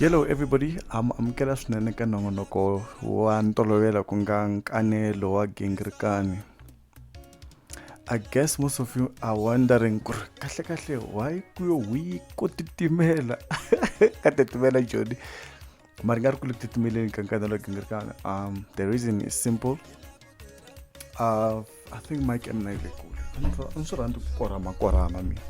hello everybody am amukela swinene ka nongonoko wa ntolovelo ku nga nkanelo wa gingirikani i guess most of you are wondering ku ri kahle kahle why ku yo wi ko titimela ka titimela joni mari nga ri ku le ku titimeleni ka nkanda lowu gingirikana um the reason is simple uh, i think mike and na yi le kule a ni swi rhandzi ku korhama korhama mina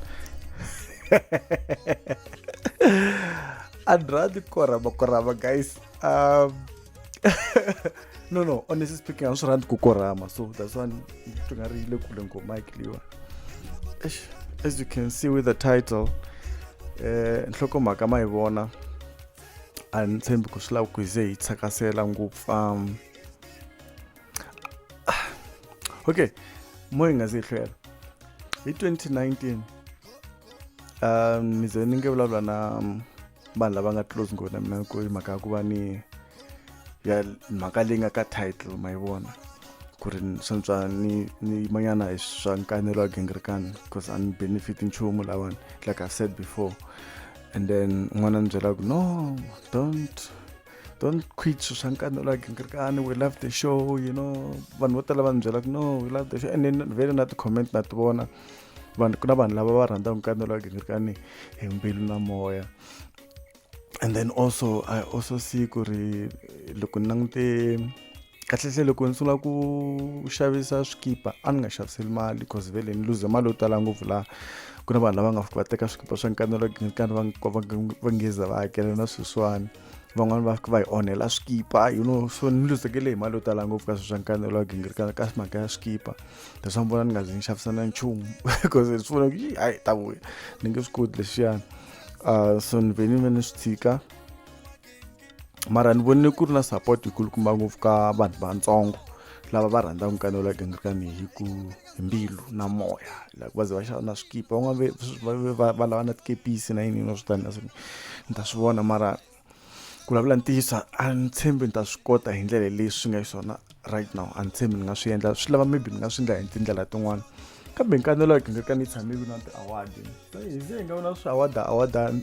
a ni rhandzi ku korhama korhama guys um no no honestly speaking a ni swi rhandzi ku korhama so that's why swi nga ri yi le kule ngo mike liwa as you can see with the title um nhlokomhaka ma yi vona a ni tshembi ku swi lava ku hi ze hi tsakasela ngopfu um okay mo hi nga ze hi hlwela hi 2019 um ni ze ni nge vulavula na um, vanhu lava nga close ngopfu na mina ku mhaka ya ku va ni ya mhaka leyi nga ka title ma yi vona ku ri swantswa ni ni yimanyana hi swa nkanelo wa gingirikani because a ni benefit nchumu lawani like i've said before and then un'wana ni byela ku no don't don't quit swilo swa nkani like nkirikani we love the show you know vanhu vo tala va ni byela ku no we love the show and then vele na ti-comment na ti vona vanhu ku na vanhu lava va rhandzaka nkani like nkirikani hi mbilu na moya and then also i also see ku ri loko ni langute kahlekahle loko ni sungula ku xavisa swikipa a ni nga xaviseli mali because vele ni luze mali yo tala ngopfu laha ku na vanhu lava nga fika va teka swikipa swa nkanelo nkanelo va ngeza va hakela na sweswiwani van'wani va fika va hi onhela swikipa you know so ni luzekele hi mali yo tala ngopfu ka swi swa nkanelo wa gingirikana ka mhaka ya swikipa leswi ni vona ni nga zi ni xavisa na nchumu because swi vona ku hayi ta vuya ni nge swi koti lexiyani uh so ni ve ni ve ni swi tshika mara ni vonile ku ri na support yikulukumba ngopfu ka vanhu vatsongo lava va rhandzaka nkani la gingirikani hi ku hi mbilu na moya like va ze va xava na swikipa van'wana va lava na tikepisi na yini no swi tani ni ta swi vona mara ku vulavula ntiyiso a ni tshembi ni ta swi kota hi ndlela leyi swi nga xiswona right now a ni tshembi ni nga swi endla swi lava maybe ni nga swi endla hi tindlela tin'wana kambe nkanelo ya gingirika ni tshamile na ti-award hi ze hi nga vona swi awada awadani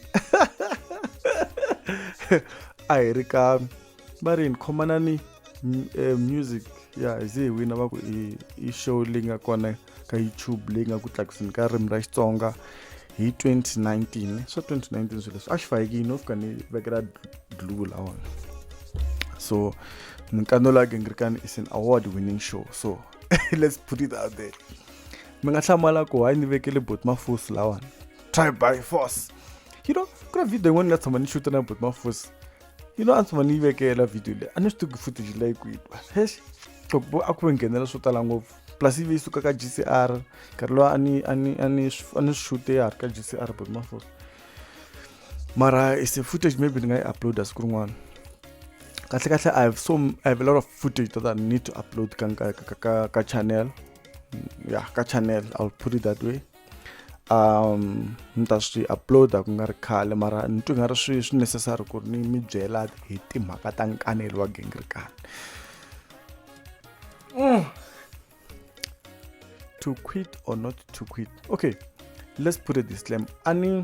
a hi ri ka va ri ni khomanani eh, music ya hi ze hi wina va ku i show leyi nga kona ka youtube leyi nga ku tlakuseni ka ririmi ra xitsonga hi 2019 swa 2019 swilo leswi a xi fayekini no fika ni vekela dlu lawona so minkando la gengirikani is an award winning show so let's put it out there mi nga hlamala ku hayi ni vekele bot mafusi lawani try by force you know ku na video yin'wana ni nga tshama ni xuta na bot mafusi you know a ni tshama ni yi vekela video leyi a ni swi tivi footage leyi kwihi hesh a ku ve nghenela swo tala ngopfu plus ivi yi suka ka g c r nkarhi lowa a ni a ni a ni a ni swi xute ya ha ri ka g c r but mafos mara is a footage maybe ni nga yi uploada siku rin'wana kahle kahle i have so i have a lot of footage that i need to upload ka ka ka ka channel ya ka channel i'll put it that way um ni ta swi uploada ku nga ri khale mara ni twi nga ri swi swi necessary ku ri ni mi byela hi timhaka ta nkanelo wa gingirikani mm. to quit or not to quit okay let's put a disclaimer ani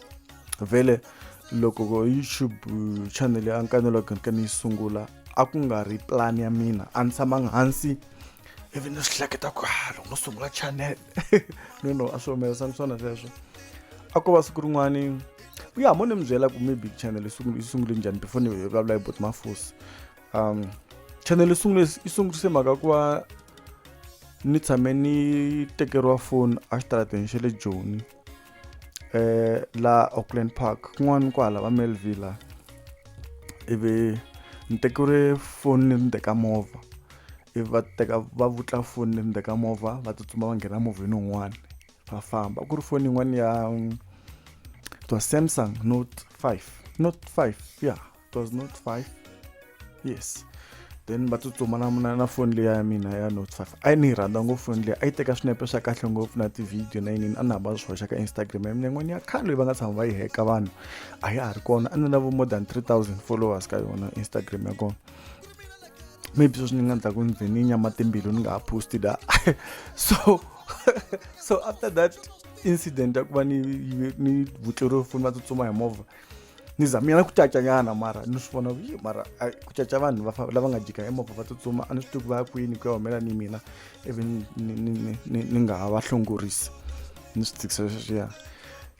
vhele loko youtube uh, channel ya nkanelo wa kereke ni yi sungula a ku nga ri plan ya mina a ni tshamanga hansi ivi ni swi hleketa ku ha loko no sungula channel no no a swi humelerisa ni swona sweswo a ko va siku rin'wani ya mo ni mi byela ku maybe channel yi sungule njhani before ni vulavula hi bot mafusi um channel yi sungule yi sungurise mhaka ku va ni tshame ni tekeriwa foni exitarateni xa le joni eh la Auckland Park kun'wana kwala va Melville la ivi ni tekile foni ni ni teka movha ivi va teka va vutla foni ni ni teka movha va tsutsuma va nghena movheni wun'wana va famba ku ri foni yin'wana ya it was Samsung Note 5 Note 5 ya yeah. it was note 5 yes then va tsutsuma na na na foni leya ya mina ya note 5 a yi ni yi rhandza ngopfu foni leyi a yi teka swinepe swa kahle ngopfu na tivhidiyo na yinini a ni hamba swi hoxa ka instagram ya mina yin'wana ya khale leyi va nga tshama va yi heka vanhu a ya ha ri kona a ni na vo more than 3000 followers ka yona instagram ya kona maybe sweswi ni nga ndzaku ni ze ni nyama timbilu ni nga ha posti da so so after that incident ya ku va ni ni vutleriwe foni va tsutsuma hi movha ni zamile na ku cacanyana mara ni swi vona yi mara a- ku caca vanhu va fa- lava nga jika emovha va tsutsuma a ni swi tivi ku va ya kwini ku ya humelela ni mina ivi ni- ni- ni- ni- ni- ni nga ha va hlongorisi ni swi tikisa sweswiya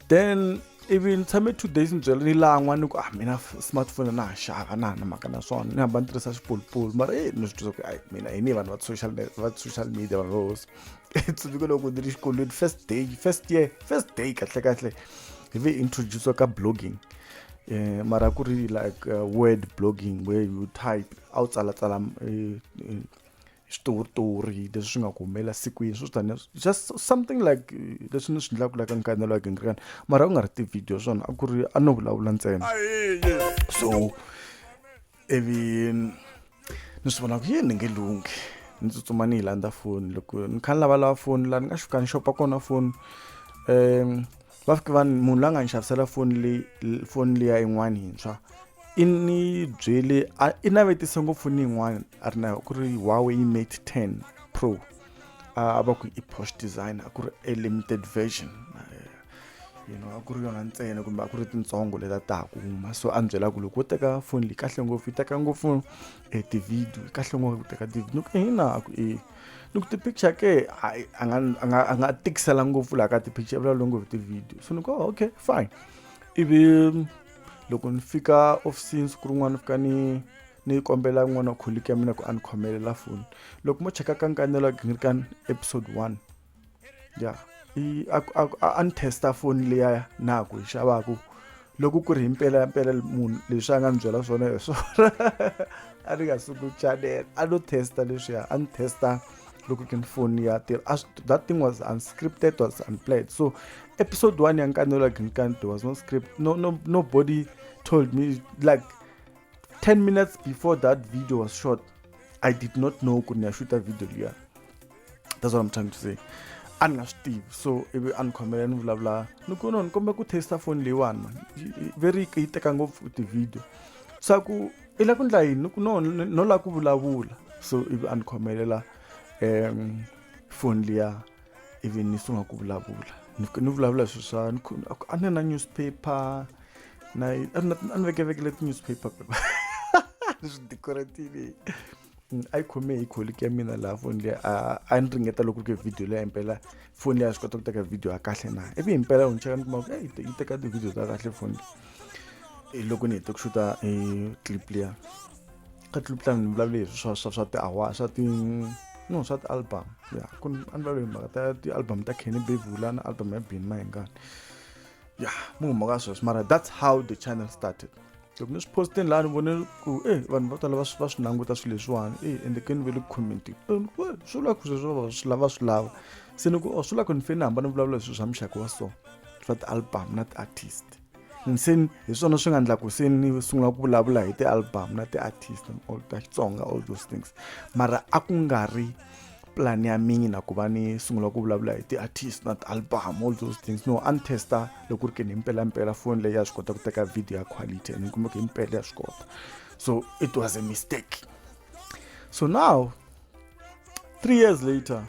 then ivi ni tshame two days ni byela ni lan'wa ni ku ah mina f- smartphone na ha xava na ha na mhaka na swona ni hamba ni tirhisa xipolipoli mara e ni swi twisa ku ayi mina hi ni vanhu va social me- va social media vanhu va hosi tsundzuke loko ndzi ri xikolweni first day first year first day kahlekahle hi ve introduce ka blogging eh mara ku ri like uh, word blogging where you type a wu tsalatsala eh, eh, switoritori leswi swi nga ku humelela sikwini swo tani just something like eh, leswi ni swi endlaka laka nkanelo ya gingirikana mara u nga ri ti-video swona a ku ri a no vulavula ntsena so ivi ni swi vona ku yini ni nge lunghi ni tsutsuma ni yi landza foni loko ni kha ni lavalava foni laha ni nga xuka ni xopa kona foni um va fike va munhu la nga ni xavisela foni leyi foni liya yin'wani yintshwa i ni byele i navetise ngopfu ni yin'wani a ri na ku ri huawei mate ten pro a va ku i posh design a ku ri a limited version you know a ku ri yona ntsena kumbe a ku ri tintsongo leta ta ha ku huma so a ni byela ku loko wo teka foni leyi kahle ngopfu yi teka ngopfu e tivhidiyo kahle ngopfu ku teka tivhidiyo ni ku hina ku e ni ku ti-picture ke a nga a nga a nga tikisela ngopfu laha ka ti-picture vulavula ngopfu tivhidiyo so ni ku oh, okay fine ivi loko ni fika ofisini siku rin'wana ni fika ni ni kombela n'wana wa kholiki ya mina ku a ni khomelela foni loko mo cheka ka nkanelo a gingirikani episode one ya i a ku- a ku- a a ni testa foni leya na ku yi xavaku loko ku ri hi mpela mpela munhu leswi a nga ni byela swona hi swona a ni nga suku chanela a no testa leswiya a ni testa loko ke ni foni ya tirha a swi- that thing was unscripted was unplanned so episode one ya nkanelo ya ginkani there was no script no, no, nobody told me like 10 minutes before that video was shot i did not know ku ni ya shuta video liya that's what i'm trying to say a ni nga swi tivi so ivi a ni khomela ni vulavula ni ku no ni kombela ku testa foni leyiwani mani veri yi teka ngopfu ti-video swa ku i la ku ndla yini ni ku no no la ku vulavula so ivi a ni khomelela um foni liya ivi ni sungula ku vulavula ni ni vulavula hi swi swa a ni na newspaper na a ni vekevekele ti-newspaper pepa ni swi decoratile a yi khome hi colleague ya mina laha foni leyi a a ni ringeta loko ri ke video leyi impela foni leyi a swi kota ku teka video ya kahle na ivi himpela u ni cheka ni kuma ku eh, yi teka ti-video ta kahle foni leyi eh, loko ni hete ku xuta hi eh, clip liya ka clip liya ni vulavule hi swa swa swa tiawa swa ti no swa ti-album ya ku a ni vulavule hi mhaka ta ti-album ta kenny bevula na album ya bini mahingani ya mu huma ka sweswo mara that's how the channel started loko ni swi postini laha ni vone ku e vanhu vo tala va swi va swi languta swilo leswiwani e ende ke ni ve le ku commenti swi lava ku sweswo va swi lava swi lava se ni ku o oh, swi lava ku ni fanele ni hamba ni vulavula hi swilo swa muxaka wa so swa ti-album na ti-artist se hi swona swi nga endla ku se ni sungula ku vulavula hi ti-album na ti-artist all ta xitsonga all those things mara a ku nga ri plan ya mina ku va ni sungula ku vulavula hi ti-artist na ti-album all those things no a ni testa loko ku ri ke ni mpelampela foni leyi ya swi kota ku teka video ya quality and ni kumbe ku himpela ya swi kota so it was a mistake so now three years later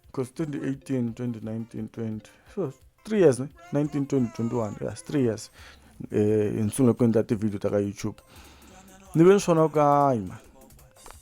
because 2018 2019 20 so three years 19 20 21 yes three years eh, hi sungule ku endla ti-video ta ka youtube ni ve ni swona ku hayi mani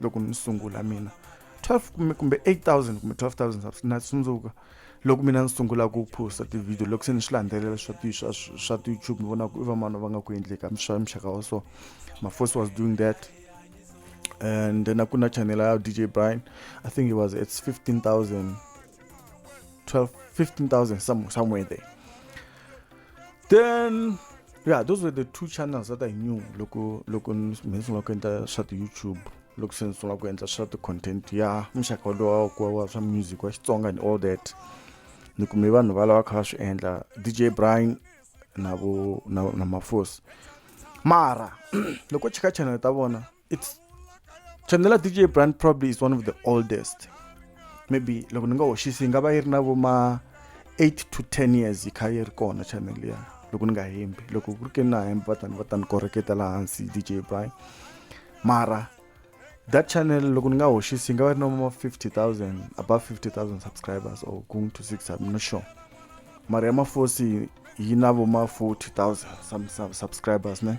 loko ni sungula mina 12 kumbe kumbe 8000 kumbe 12000 na tsundzuka loko mina ni sungula ku posta ti-video loko se ni swi landzelela swa ti swa swa ti-youtube ni vona ku i vamani va nga ku endleka swa muxaka wa so my first was doing that and then a ku na channel ya dj brian i think it was it's 15000 12 15000 somewhere there then yeah those were the two channels that i knew loko loko me ni sungula ku endla swa ti-youtube loko se ni sungula ku endla swa ti-content ya muxaka lowa kuwa wa swa music wa xitsonga and all that ni kume vanhu va lava kha va swi endla dj brian na vo na, na mafosi mara loko chika channel ta vona it's Chandela DJ brand probably is one of the oldest maybe loko ni nga hoxisi yi nga va yi ri na vo ma 8 to 10 years yi kha yi ri kona channel liya loko ni nga hembi loko ku ri ke na hembi va tani va tani koreketa laha hansi dj brian mara that channel loko ni nga hoxisi yi nga va ri na ma 50000 above 50000 subscribers or going to 6 i'm not sure mara ya mafosi yi na vo ma 40000 subscribers ne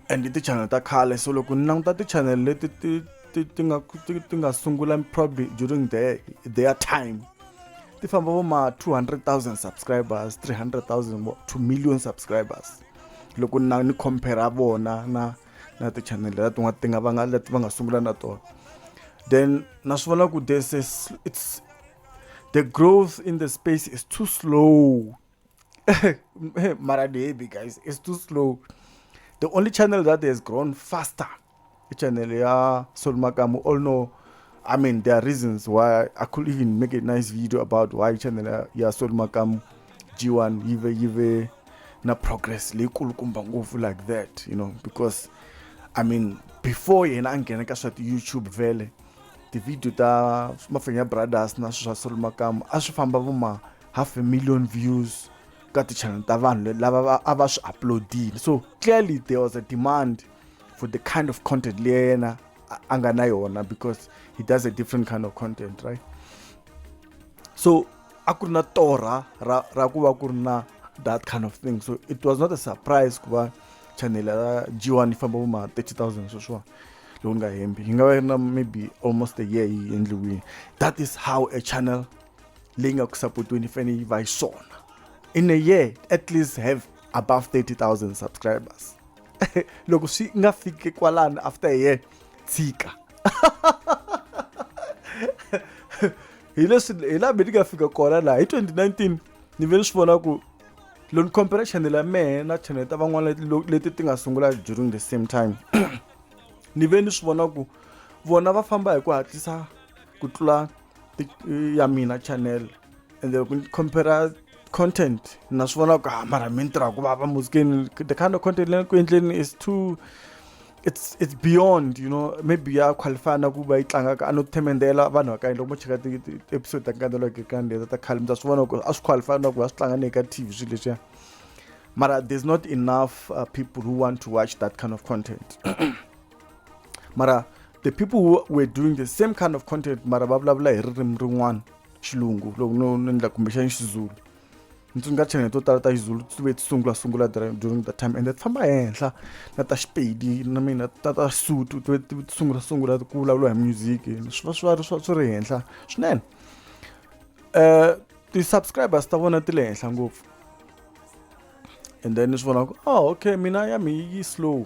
and ti-channel ta khale so loko ni languta ti-channel leti ti ti ti nga ti ti nga sungula probably during the their time ti famba vo ma 200,000 subscribers 300,000 to million subscribers loko na ni compare vona na na ti-channel leti tin'wana ti nga va nga leti va nga sungula na tona then na swi vona ku this is it's the growth in the space is too slow Mara Debi, guys, it's too slow. The only channel that has grown faster, channel ya Solmakamu. All know, I mean, there are reasons why I could even make a nice video about why channel ya Solmakamu G1 yive yive na progress leikulu kumba ngopfu like that, you know, because I mean, before yena a nghena ka swa YouTube vele, the video ta Mafenya Brothers na swa Solmakamu a swi famba vuma half a million views ka ti-channel ta vanhu lava a va swi uploadile so clearly there was a demand for the kind of content leyi yena a nga na yona because he does a different kind of content right so a ku ri na torha ra ra ku va ku ri na that kind of thing so it was not a surprise ku va channel ya g1 yi famba vo ma 30 000 sweswiwa loko ni nga hembi yi nga va yi ri na maybe almost a year yi endliwile that is how a channel leyi nga ku sapotweni yi fanele yi va yi swona in a year at least have above 30000 subscribers loko swi nga fiki kwalano after a year tshika hi leswi hi laha mi ni nga fika kona laha hi 2019 ni ve ni swi vona ku loko ni compare channel ya mehe na channel ta van'wana leti ti nga sungula during the same time ni ve ni swi vona ku vona va famba hi ku hatlisa ku tlula ya mina channel ende loko ni compare content na swi vona ku ha ah, mara mi ni tirha ku vava muzikeni the kind of content leyi ku endleni is too it's it's beyond you know maybe ya qualify na ku va yi tlanga ka a no themendela vanhu va ka loko mo cheka ti-episode ta nkandelo ke ka ndlela ta khale mi ta swi vona ku a swi qualify na ku va swi tlanga ni ka tv swilo leswiya mara there's not enough uh, people who want to watch that kind of content mara the people who were doing the same kind of content mara va vulavula hi ririmi rin'wana xilungu loko no no endla kumbexani xizulu ni tsundzuka channel to tala ta xizulu ti ve ti sungula sungula during that time ende ti famba henhla na ta xipedi na mina ta ta sutu ti ve ti sungula sungula ku vulavula hi music swi va swi va swi swi ri henhla swinene um ti-subscribers ta vona ti le henhla ngopfu and then ni swi vona ku oh okay mina ya mi yi slow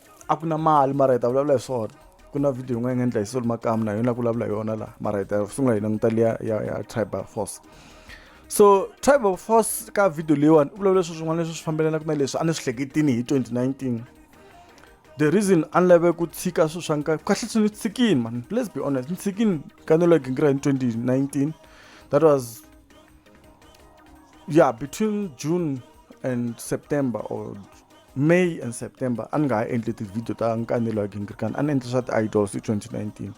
a ku na mali mara hi ta vulavula hi swona ku na video yin'wana yi nga endla hi solo makamu na yona ku vulavula hi yona laha mara hi ta sungula hi languta liya ya ya tribal force so tribal force ka video leyiwani u vulavula leswi swin'wana leswi swi fambelanaka na leswi a ni swi hleketini hi 2019 the reason a ni lave ku tshika swilo swa nkarhi kahle swi ni tshikini man let's be honest ni tshikini ka ni loko hi ngira hi 2019 that was yeah between june and september or May and September a ni nga ha endli ti-video ta nkanelo ya Gingirikani a ni endli swa ti-idols hi 2019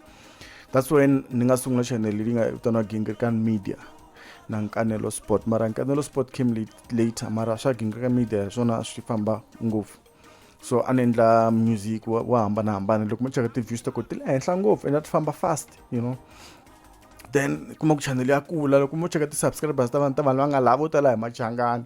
that's when ni nga sungula channel leyi nga vitaniwa Gingirikani media na nkanelo sport mara nkanelo sport came later mara swa Gingirikani media hi swona swi famba ngopfu so a ni endla music wo hambanahambana loko mo cheka ti-views ta ko ti le henhla ngopfu and a ti famba fast you know then kuma ku channel ya kula loko mo cheka ti-subscribers ta vanhu ta vanhu va nga lava vo tala hi machangani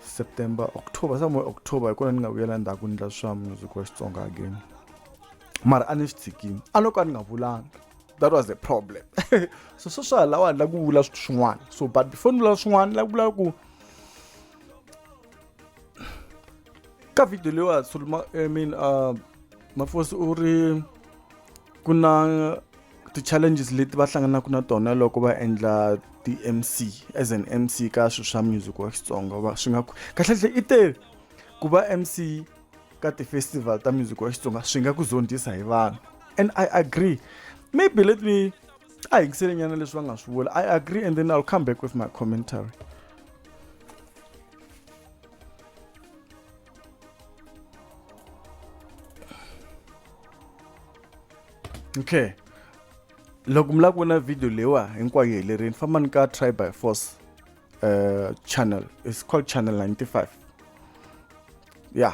september october somewhere october hi kona ni nga vuyela ndzhaku ni ndla swa music wa xitsonga again mara a ni swi tshikini a loko a ni nga vulanga that was the problem so swo swa lawa ni la ku vula swin'wana so but before ni vula swin'wana ni la ku vula ku ka video leyiwa suluma i mean uh, mafosi u ri ku na ti-challenges leti va hlanganaka na tona loko va endla ti-mc as an mc ka swilo swa music wa xitsonga va swi nga kahlekahle i te ku va mc ka ti-festival ta music wa xitsonga swi nga ku zondzisa hi vanhu and i agree maybe let me a yingisele nyana leswi va nga swi vula i agree and then i'll come back with my commentary okay loko mi lava ku vona video leyiwa hinkwayo yi helerini fambani ka try by force uh, channel is called channel 95 ya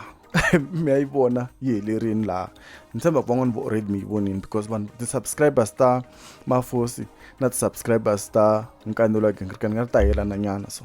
mi ya yi vona yi helerini laha ni tshemba ku van'wana vo already mi yi vonini because vanhu ti-subscribers ta mafosi na ti-subscribers ta nkanelo wa gingirikani nga ri ta helana nyana so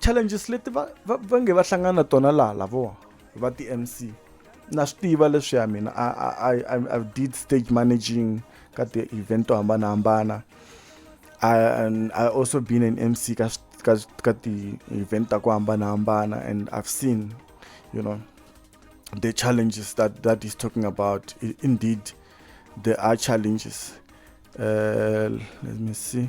challenges leti va va va nge va hlangana na tona laha lavowa va ti mc na swi tiva leswiya mina I, I, I, I did stage managing ka ti-event to hambanahambana and i also been an mc ka ka ka ti-event ta ku hambanahambana and i've seen you know the challenges that that is talking about indeed there are challenges uh, let me see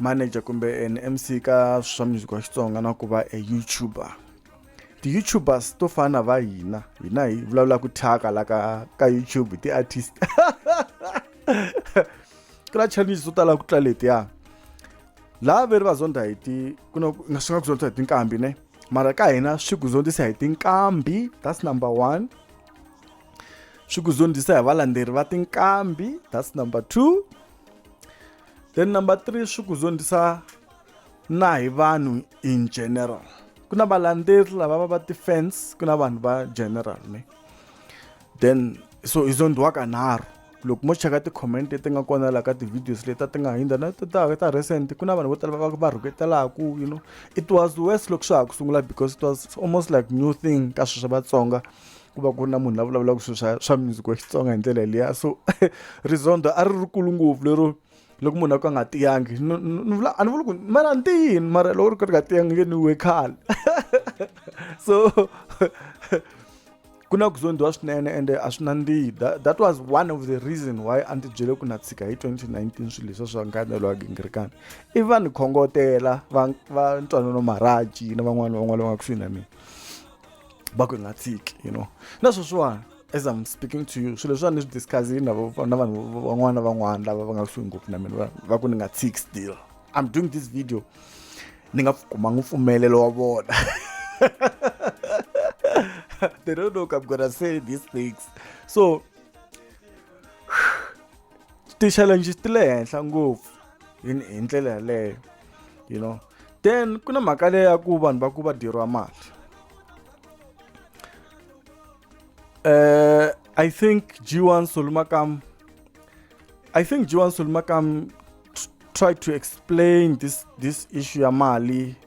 manager kumbe an mc ka swa music wa xitsonga na ku va a youtuber ti-youtubers to fana na va hina hina hi vulavula ku thyaka la ka ka youtube hi ti-artist ku na challenges to tala ku tla letiya laha veri va zonda hi ti ku na swi nga ku zonda hi tinkambi ne mara ka hina swi ku zondzisa hi tinkambi that's number one swi ku zondzisa hi valandzeri va tinkambi that's number two then number three swi ku zondzisa na hi vanhu in general ku na valandzeri lava va va ti-fans ku na vanhu va general ne then so hi zondiwa kanharhu loko mo cheka ti-comment leti nga kona laha ka ti-videos leti ti nga hundza na ta ta recent ku na vanhu vo tala va va rhuketelaku you know it was worse loko swa ha ku sungula because it was almost like new thing ka sweswo vatsonga ku va ku ri na munhu la vulavulaka swilo swa swa music wa xitsonga hi ndlela liya so rizondo a ri rikulu ngopfu lero loko munhu a ka a nga tiyangi ni vula a ni vuli ku mara ni tiyini mara loko ri ka ri nga tiyangi nge ni we khale so ku na ku zondiwa swinene ende a swi nandzihi that was one of the reason why a ndzi byele ku na tshika hi 2019 swilo leswa swa nkanelo wa gingirikana i va ni khongotela va va ntwanano maraji na van'wana van'wana va nga kusuhi na mina va ku hi nga tshiki you know na sweswiwani as i'm speaking to you swilo leswiwani ni swi discussini na na vanhu van'wana na van'wana lava va nga kusuhi ngopfu na mina va ku ni nga tshiki still i'm doing this video ni nga kumanga mpfumelelo wa vona they don't know i'm gonna say these things so ti-challenges ti le henhla ngopfu hi hi ndlela yaleyo you know then ku na mhaka leyi ya ku vanhu va ku va dyeriwa mali uh, i think g1 solumakam i think g1 solumakam tried to explain this this issue ya mali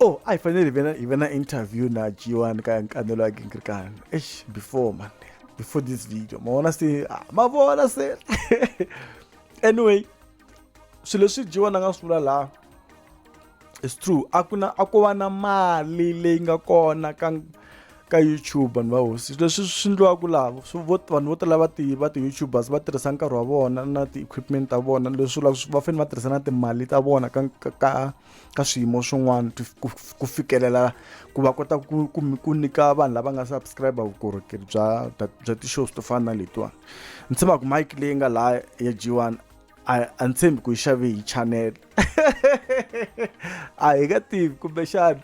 oh a yi fanele hi ve na hi ve na interview na g1 ka nkanelo wa gingirikani eish before man before this video ma vona se ah, ma vona se anyway swilo leswi g1 a nga swi vula laha it's true a ku na a ko va na mali leyi nga kona ka ka youtube vanhu va hosi leswi swi ndliwaka laha vanhu vo tala va ti va ti-youtubers va tirhisa nkarhi wa vona na ti-equipment ta vona leswi vulaka va fanele va tirhisa na timali ta vona ka ka ka ka swiyimo swin'wana ku fikelela ku va kota ku ku ku nyika vanhu lava nga subscribe vukorhokeri bya bya ti-shows to fana na letiwani ni tshemba ku mike leyi nga laha ya g one a ni tshembi ku yi xave hi channel a hi nga tivi kumbexana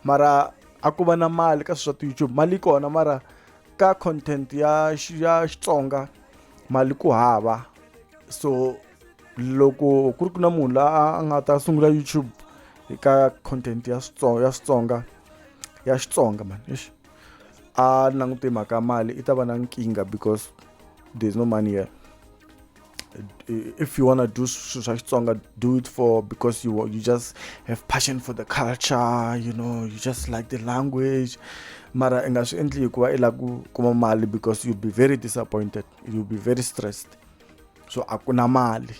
mara a ku va na mali ka swilo swa ti-youtube mali yi kona mara ka content ya ya xitsonga mali ku hava so loko ku ri ku na munhu la a nga ta sungula youtube ka content ya switsonga ya switsonga ya xitsonga mani exi a langute mhaka mali i ta va na nkingha because there's no money here if you wanna do swilo swa xitsonga do it for because you you just have passion for the culture you know you just like the language mara i nga swi endli hikuva i lava ku kuma mali because you'll be very disappointed you'll be very stressed so a ku na mali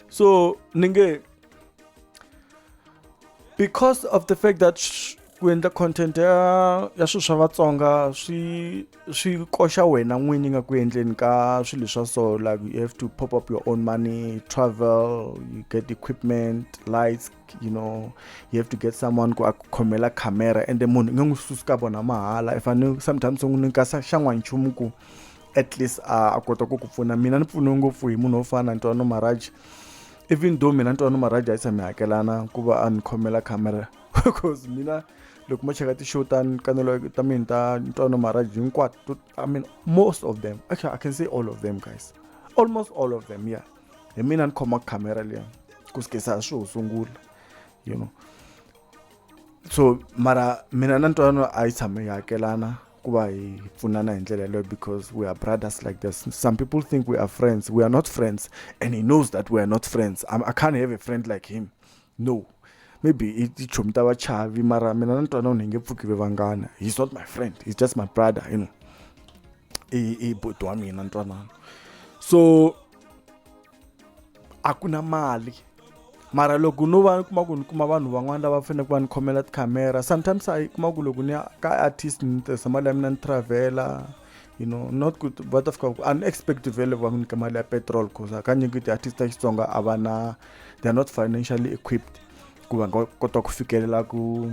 so ni nge because of the fact that ku endla content ya ya swilo swa vatsonga swi swi koxa wena n'winyi nga ku endleni ka swilo swa so like you have to pop up your own money travel you get equipment lights you know you have to get someone ku a ku khomela camera ende munhu i nge n'wi susi ka vona mahala i fanele sometimes u n'wi nyika xan'wanchumu ku at least a a kota ku ku pfuna mina ni pfuniwe ngopfu hi munhu wo fana na ntwano maraji even though mina ntwano maraji a yi tshami hakelana ku va a ni khomela camera because mina loko mo cheka ti-show ta kanelo ta mina ta ntwano maraji hinkwato i mean most of them actually i can say all of them guys almost all of them yeah hi mina ni khoma camera liya ku sikesa swi ho sungula you know so mara mina na ntwano a yi tshame yi hakelana ku va hi pfunana hi ndlela yeleyo because we are brothers like this some people think we are friends we are not friends and he knows that we are not friends I'm, i can't have a friend like him no maybe i tichomi ta vachavi mara mina ni twana u ni nge pfuki ve vanghana he's not my friend he's just my brother you know i i boti wa mina ntwanano so a ku na mali mara loko no va ni kuma ku ni kuma vanhu van'wana lava faneleke va ni khomela tikhamera sometimes a yi kuma ku loko ni ya ka artist ni tirhisa mali ya mina ni travela you know not ku va ta fika ku a ni expect vele va nyika mali ya petrol cause hakanyingi ti-artist ta xitsonga a va na they are not financially equipped ku va nga kota ku fikelela ku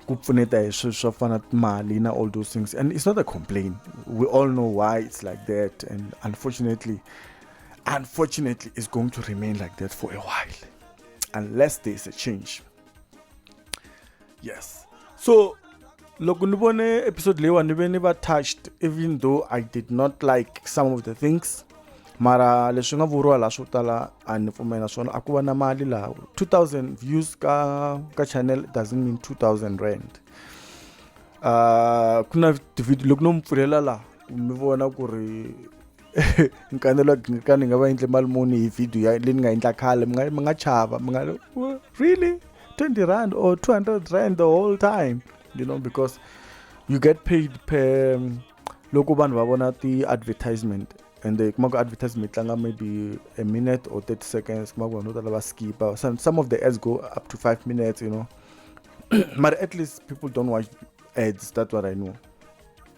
ku pfuneta hi swilo swo fana mali na all those things and it's not a complain we all know why it's like that and unfortunately Unfortunately, it's going to remain like that for a while unless there is a change. Yes. So, loko ni vone episode leyiwa ni ve ni va touched even though i did not like some of the things mara leswi nga vuriwa laha swo tala a ni pfumela swona a ku va na mali laha 2000 views ka ka channel doesn't mean 2000 rand uh, ku na tivideo loko no mi pfulela laha mi vona ku ri ni kanelwa ka ni nga va endle mali muni hi video ya leyi ni nga endla khale mi nga mi nga chava mi nga really 20 rand or 200 rand the whole time you know because you get paid per um, loko vanhu va vona ti-advertisement and uh, kuma ku advertisement tlanga maybe a minute or 30 seconds kuma ku vanhu vo tala va skipa some, some of the ads go up to 5 minutes you know but at least people don't watch ads that's what i know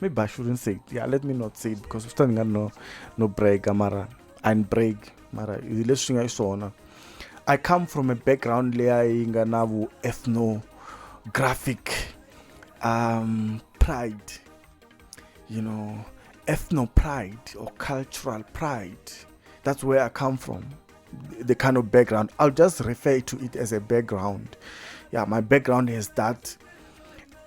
maybe i shouldn't say it yeah let me not say it because swi ta ni nga no no break mara and break mara hi leswi swi nga xiswona i come from a background leya yi nga na vu ethnographic um pride you know ethno pride or cultural pride that's where i come from the kind of background i'll just refer to it as a background yeah my background is that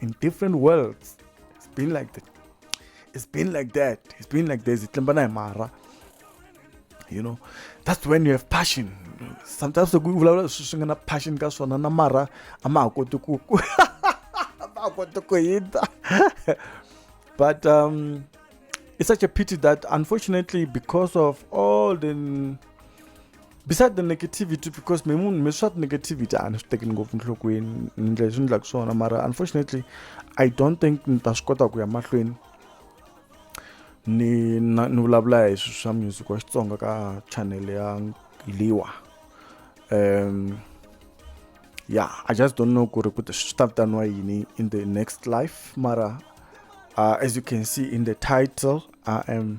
in different worlds it's been like that it's been like that it's been like this mara you know that's when you have passion sometimes loko vulavula leswi swi nga na passion ka swona na mara a ma ha koti ku ma ha koti ku hindza but um, it's such a pity that unfortunately because of all the beside the negativity because me munhu me swa negativity a ni swi tekeli ngopfu nhlokweni ni ndlela leswi ni endlaka swona mara unfortunately i don't think ni ta swi kota ku ya mahlweni ni ni vulavula hi swilo swa music wa xitsonga ka channel ya liwa um yeah i just don't know ku ri ku swi ta vitaniwa yini in the next life mara uh, as you can see in the title i am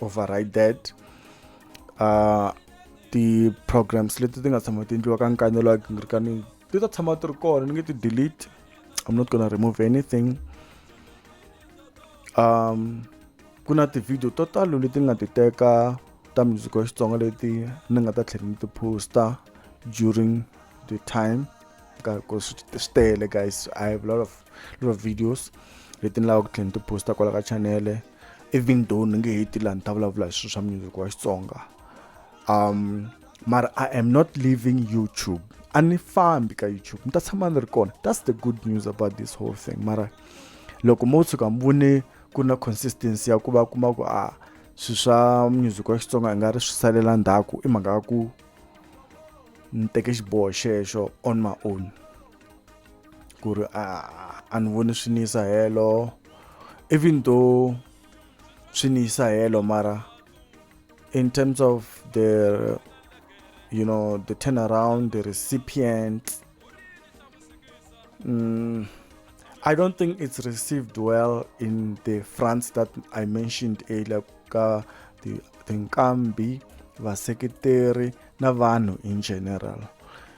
override that uh ti-programs leti ti nga tshama ti endliwa ka nkanelo wa gingirikani ti ta tshama ti ri kona ni nge ti delete i'm not gonna remove anything um ku na ti-video to talo leti nga ti teka ta music wa xitsonga leti ni nga ta tlhela ni ti posta during the time because swi tele guys i have a lot of lot of videos leti ni lavaka ku tlhela ni ti posta kwala ka chanele even though ni nge heti laha ni ta vulavula hi swilo swa music wa xitsonga um mara i am not leaving youtube a ni fambi ka youtube ni ta tshama ni ri kona that's the good news about this whole thing mara loko mo tshuka mi vone ku na consistency ya ku va kuma ku a swilo swa music wa xitsonga i nga ri swi salela ndzhaku i mhaka ya ku ni teke xiboho xexo on my own ku ri a a ni voni swi ni yisa helo even though swi ni yisa helo mara in terms of the you know the turnaround the recipient mm, I don't think it's received well in the France that I mentioned earlier ka tinkambi vaseketeri na vanhu in general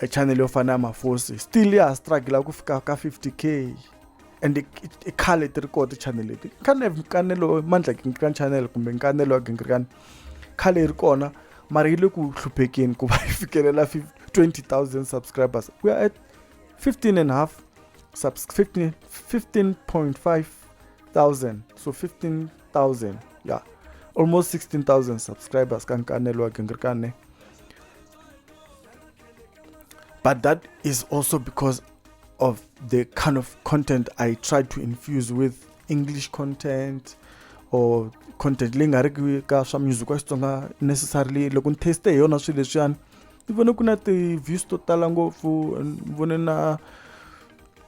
e channel yo fana ya mafosi still ya ha struggle ku fika ka 50 k and i khale ti ri koho ti-channel leti khane nkanelo mandla gingirikani channel kumbe nkanelo wa gingirikani khale yi ri kona mara yi le ku hluphekeni ku va yi fikelela 20000 subscribers we are at 15 and half 15.5 thousand so 15 thousand ya almost 16000 subscribers ka nkanelo wa gingirika ne but that is also because of the kind of content i try to infuse with english content or content leyi nga ri ki ka swa music wa xitsonga necessarily loko ni taste hi yona swilo leswiyani ni vone ku na ti-views to tala ngopfu ni vone na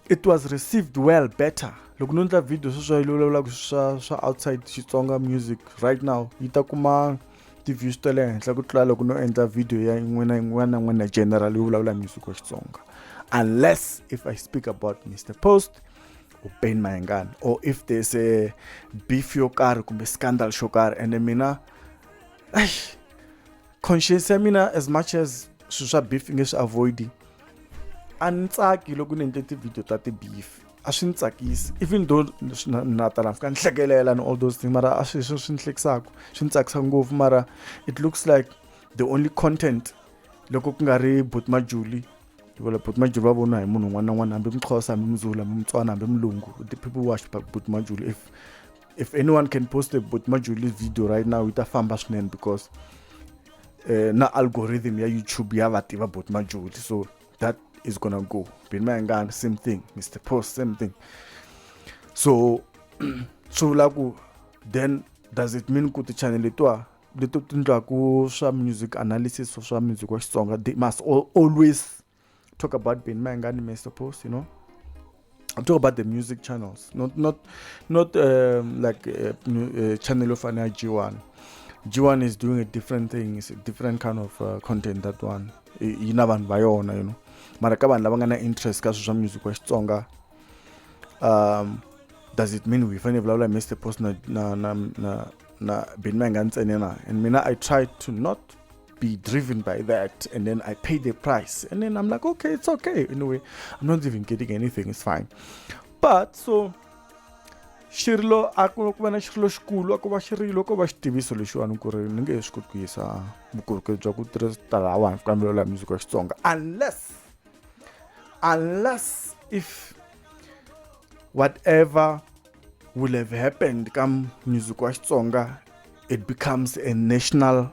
it was received well better loko no ndla video sweswa yi vulavulaka swa swa outside xitsonga music right now yi ta kuma ti-views ta le henhla ku tlula loko no endla video ya yin'wana na yin'wana na yin'wana ya general yo vulavula music wa xitsonga unless if i speak about mr post or ben mayengani or if there's a beef yo karhi kumbe scandal xo karhi ende mina eish conscience ya mina as much as swilo swa beef nge swi avoid a ni tsaki loko ni endle ti-video ta ti-beef a swi ni tsakisi even though na tala fika ni hlekelela and all those things mara a swi swi ni hlekisaka swi ni tsakisa ngopfu mara it looks like the only content loko ku nga ri but majuli vula but majuli va vona hi munhu un'wana na un'wana hambi mixhosa hambi muzulu hambi mutswana hambi mulungu the people watch but majuli if if anyone can post a but majuli video right now ita famba swinene because uh, na algorithm ya youtube ya va tiva but majuli so that is gonna go bin mayangani same thing mr post same thing so swi vula ku then does it mean ku ti-channel letiwa leto ti ndlaku swa music analysis swa music wa xitsonga they must always talk about Ben Manga and Mr. Post, you know. I'm talking about the music channels, not not not um, like uh, uh, channel of an G1. G1 is doing a different thing. It's a different kind of uh, content that one. You know, vanhu vayona you know. Mara ka vanhu lava nga na interest ka sweswa music wa Xitsonga. Um does it mean we fanele vulavula hi Mr Post na na na na na Benimanga ntsene na? And mina I try to not be driven by that and then I pay the price and then I'm like okay it's okay anyway I'm not even getting anything it's fine but so xi ri lo a ku ku va na xi ri loxikulu a ku va xi ri loko va xitiviso lexiwani ku ri ni nge he swi koti ku yisa vukorhokeri bya ku tirhisa talawani ku kambelo la music ya xitsonga unless unless if whatever will have happened ka music wa xitsonga it becomes a national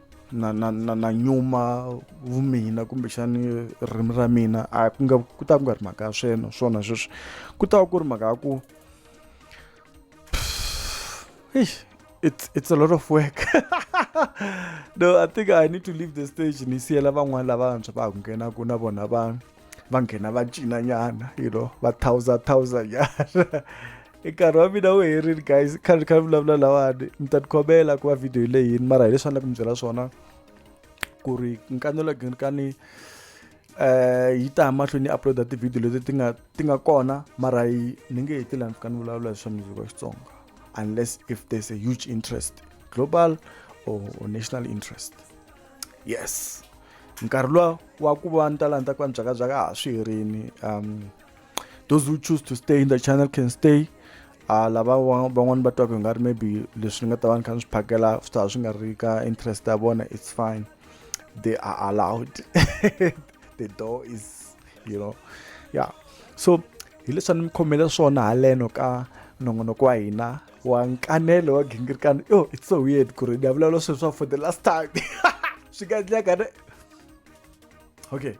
na na na na nyuma vumina kumbexani ririmi ra mina a ku nga ku ta ku nga ri mhaka ya swena swona sweswi ku ta ku ri mhaka ya ku it's it's a lot of work no i think i need to leave the stage ni siyela van'wani lavantshwa va ha ku nghenaku na vona va va nghena va cina nyana you know va thawuza thawuza nyana i nkarhi wa mina wu herile guys kha ni kha ni vulavula lawani ni ta tikhomela ku va video leyi yini mara hi leswi a ni ku mi byela swona ku ri nkanelo ginkani eh yi ta mahlweni yi uploada tivhidiyo leti ti nga ti nga kona mara yi ni nge heti laha ni fika ni vulavula hi swa music wa xitsonga unless if there's a huge interest global or, or national interest yes nkarhi luwa wa ku va ni ta lani ta ku va ni byakabyaka a ha swi herini um those who choose to stay in the channel can stay uh, lava van'wani va twaka hi nga ri maybe leswi ni nga ta va ni kha ni swi phakela swi ta swi nga ri ka interest ya vona it's fine they are allowed the door is you know yeah so hi leswi a ni mi khomele swona haleno ka nongonoko wa hina wa nkanelo wa gingirikana yo it's so weird ku ri ni ya vulavula swilo swa for the last time swi nga endleka ne okay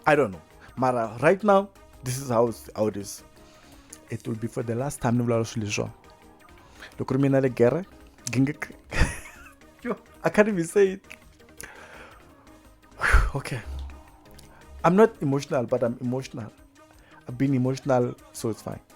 i don't know mara right now this is how, how it is it will be for the last time ni vulavula swilo leswiwa loko ri mina le gere gingik yo i can't even say it okay i'm not emotional but i'm emotional i've been emotional so it's fine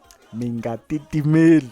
mi nga titimeli